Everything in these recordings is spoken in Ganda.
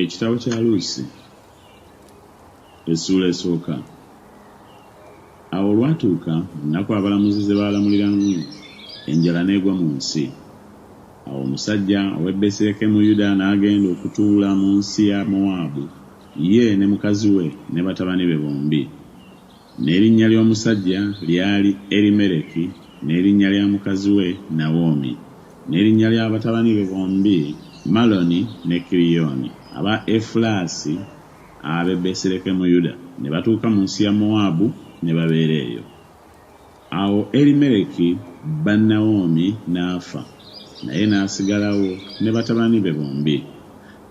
Ekitabo kya Luusi essuula esooka. Awo olwatuuka ennaku abalamuzi ze baalamuliramu, enjala n'egwa mu nsi. Awo omusajja ow'e Besirekemu Yuda n'agenda okutuula mu nsi ya Mowaabu, ye ne mukazi we ne batabani be bombi. N'erinnya ly'omusajja lyali Erimereki, n'erinnya lya mukazi we Nawomi. N'erinnya lya batabani be bombi Maloni ne Kiriyoni, aba Efulasi ab'e Besirekemuyuda, ne batuuka mu nsi ya Mowaabu, ne babeera eyo. Awo Elimeleki bba Nawomi n'afa, naye n'asigalawo ne batabani be bombi.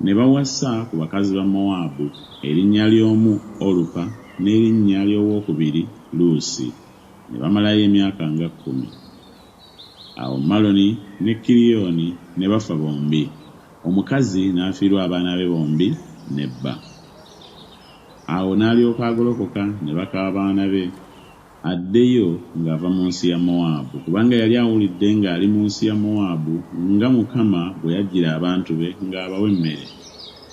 Ne bawasa ku bakazi ba Mowaabu, erinnya ly'omu Olupa n'erinnya ly'owokubiri Luusi, ne bamalayo emyaka nga kkumi. Awo Maloni ne Kilioni ne bafa bombi, omukazi n'afiirwa abaana be bombi ne bba. Awo n'alyoka agolokoka ne baka abaana be. addeyo ng'ava mu nsi ya Mowaabu, kubanga yali awulidde ng'ali mu nsi ya Mowaabu, nga Mukama bwe yajjira abantu be ng'abawa emmere.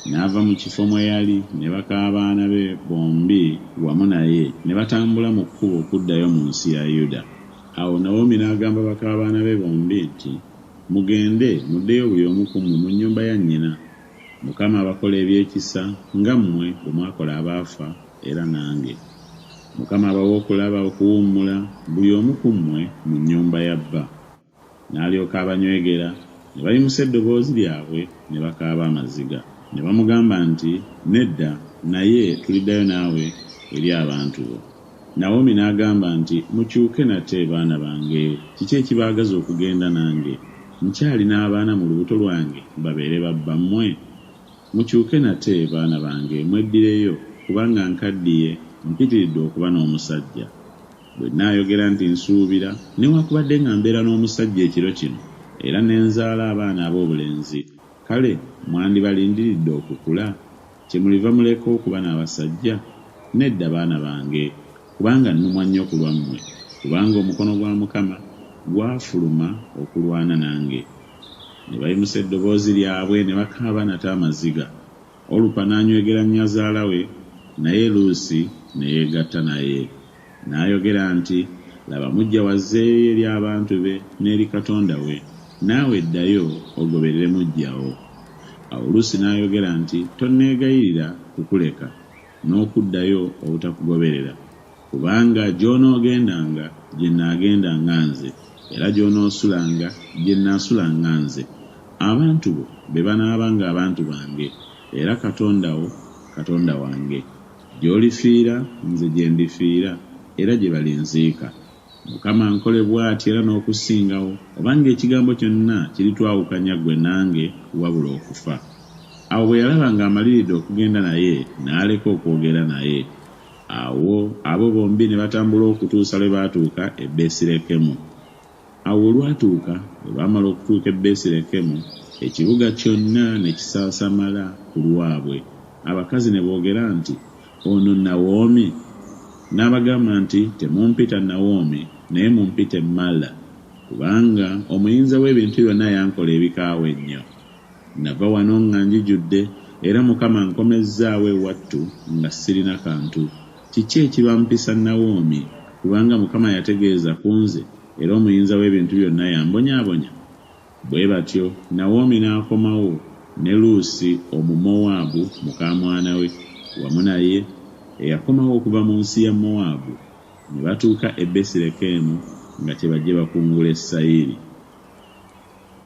N'ava mu kifo mwe yali, ne baka abaana be bombi wamu naye, ne batambula mu kkubo okuddayo mu nsi ya Yuda. Awo Nawomi n'agamba baka baana be bombi nti, Mugende, muddeyo buli omu ku mmwe mu nnyumba ya nnyina. Mukama abakola ebyekisa nga mmwe bwe mwakola abaafa era nange. Mukama abawe okulaba, okuwummula, buli omu ku mmwe mu nnyumba ya bba. N'alyoka abanywegera, ne bayimusa eddoboozi lyabwe ne bakaaba amaziga. Ne bamugamba nti, Nedda, naye tuliddayo naawe eri abantu bo. Nawomi n'agamba nti, Mukyuke nate, baana bange. Kiki ekibaagaza okugenda nange? Nkyalina abaana mu lubuto lwange babeere ba bbammwe? Mukyuke nate, baana bange, mweddireyo, kubanga nkaddiye, mpitiridde okuba n'omusajja. Bwe nnaayogera nti, Nsuubira, newakubadde nga mbeera n'omusajja ekiro kino, era ne nzaala abaana ab'obulenzi, kale mwandibalindiridde okukula? Kyemuliva muleka okuba n'abasajja? Nedda, baana bange, kubanga nnumwa nnyo ku lwammwe, kubanga omukono gwa Mukama gwafuluma okulwana nange. Ne bayimusa eddoboozi lyabwe ne bakaaba nate amaziga. Olupa n'anywegera nnyazaala we, naye Luusi ne yeegatta naye. N'ayogera nti, Laba muggya wo azzeeyo eri abantu be n'eri Katonda we, naawe ddayo ogoberere muggya wo. Awo Luusi n'ayogera nti, Tonneegayirira kukuleka, n'okuddayo obutakugoberera, kubanga gy'onoogendanga, gye nnaagendanga nze, era gy'onoosulanga, gye nnaasulanga nze. Abantu bo be banaabanga abantu bange, era Katonda wo, Katonda wange. Gy'olifiira, nze gye ndifiira, era gye balinziika. Mukama ankole bw'ati era n'okusingawo, obanga ekigambo kyonna kiritwawukanya ggwe nange, wabula okufa. Awo bwe yalaba ng'amaliridde okugenda naye, n'aleka okwogera naye. Awo abo bombi ne batambula okutuusa lwe baatuuka e Besirekemu. Awo olwatuuka, bwe baamala okutuuka e Besirekemu, ekibuga kyonna ne kisaasamala ku lwabwe, abakazi ne boogera nti, Ono Nawomi? N'abagamba nti, Temumpita Nawomi, naye mumpite Mala, kubanga Omuyinza w'Ebintu Byonna yankola ebikaawa ennyo. Nnava wano nga njijudde, era Mukama ankomezzaawo ewattu nga sirina kantu. Kiki ekibampisa Nawomi? Kubanga Mukama yategeeza ku nze, era Omuyinza w'Ebintu Byonna y'ambonyaabonya. Bwe batyo Nawomi n'akomawo, ne Luusi Omumowaabu mukaamwana we wamu naye, eyakomawo okuva mu nsi ya Mowaabu, ne batuuka e Besirekemu nga kye bajje bakungule sayiri.